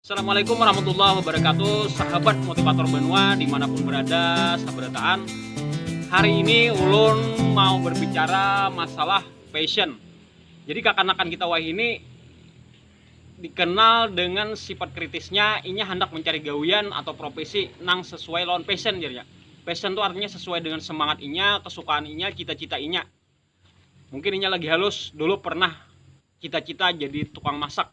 Assalamualaikum warahmatullahi wabarakatuh Sahabat motivator benua dimanapun berada Sabarataan Hari ini ulun mau berbicara masalah fashion Jadi kakanakan kita wah ini Dikenal dengan sifat kritisnya Inya hendak mencari gawian atau profesi Nang sesuai lawan passion jadinya Passion itu artinya sesuai dengan semangat inya, kesukaan inya, cita-cita inya Mungkin inya lagi halus dulu pernah cita-cita jadi tukang masak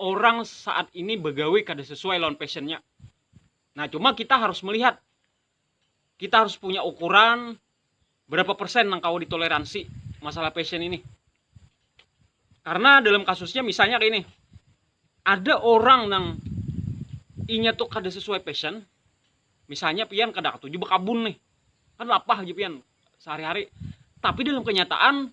orang saat ini begawe kada sesuai lawan passionnya. Nah, cuma kita harus melihat, kita harus punya ukuran berapa persen yang kau ditoleransi masalah passion ini. Karena dalam kasusnya misalnya kayak ini, ada orang yang inya tuh kada sesuai passion, misalnya pian kada ketuju berkabun nih, kan lapah aja pian sehari-hari. Tapi dalam kenyataan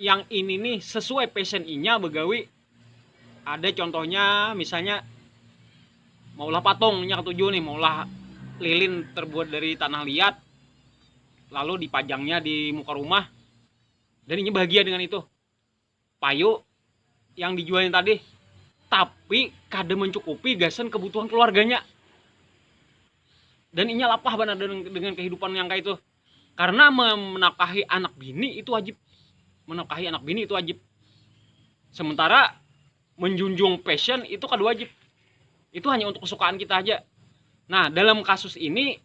yang ini nih sesuai passion inya begawi ada contohnya misalnya maulah patungnya ketujuh nih maulah lilin terbuat dari tanah liat lalu dipajangnya di muka rumah dan ini bahagia dengan itu payu yang dijualnya tadi tapi kada mencukupi gasan kebutuhan keluarganya dan inya lapah banar dengan, dengan kehidupan yang kayak itu karena menafkahi anak bini itu wajib menafkahi anak bini itu wajib sementara menjunjung passion itu kada wajib itu hanya untuk kesukaan kita aja nah dalam kasus ini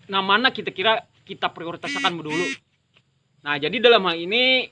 nah mana kita kira kita prioritaskan dulu nah jadi dalam hal ini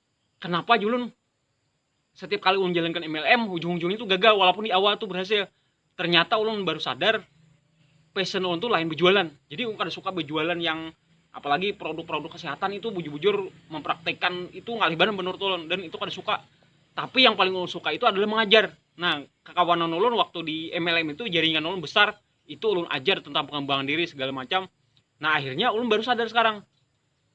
Kenapa julun setiap kali ulun jalankan MLM ujung-ujungnya tuh gagal walaupun di awal tuh berhasil ternyata ulun baru sadar passion ulun tuh lain berjualan jadi ulun kada suka berjualan yang apalagi produk-produk kesehatan itu bujur-bujur mempraktekkan itu ngalih banar menurut ulun dan itu kada suka tapi yang paling ulun suka itu adalah mengajar nah kekawanan ulun waktu di MLM itu jaringan ulun besar itu ulun ajar tentang pengembangan diri segala macam nah akhirnya ulun baru sadar sekarang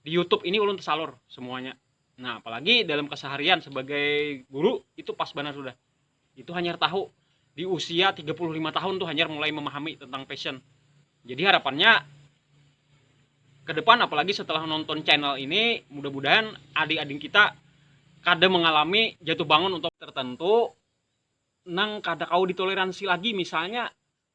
di YouTube ini ulun tersalur semuanya nah apalagi dalam keseharian sebagai guru itu pas banget sudah itu hanya tahu di usia 35 tahun tuh hanya mulai memahami tentang passion jadi harapannya ke depan apalagi setelah nonton channel ini mudah-mudahan adik-adik kita kada mengalami jatuh bangun untuk tertentu nang kada kau ditoleransi lagi misalnya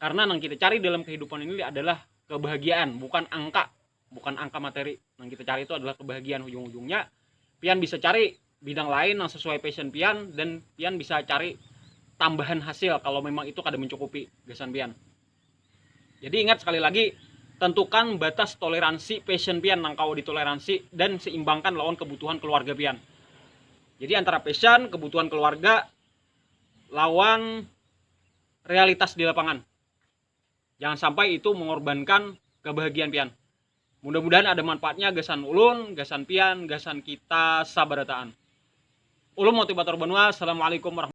Karena nang kita cari dalam kehidupan ini adalah kebahagiaan, bukan angka, bukan angka materi. Nang kita cari itu adalah kebahagiaan ujung-ujungnya. Pian bisa cari bidang lain yang sesuai passion pian dan pian bisa cari tambahan hasil kalau memang itu kada mencukupi gasan pian. Jadi ingat sekali lagi, tentukan batas toleransi passion pian nang kau ditoleransi dan seimbangkan lawan kebutuhan keluarga pian. Jadi antara passion, kebutuhan keluarga, lawan realitas di lapangan. Jangan sampai itu mengorbankan kebahagiaan pian. Mudah-mudahan ada manfaatnya gasan ulun, gasan pian, gasan kita sabarataan. Ulun motivator banua. Assalamualaikum warahmatullahi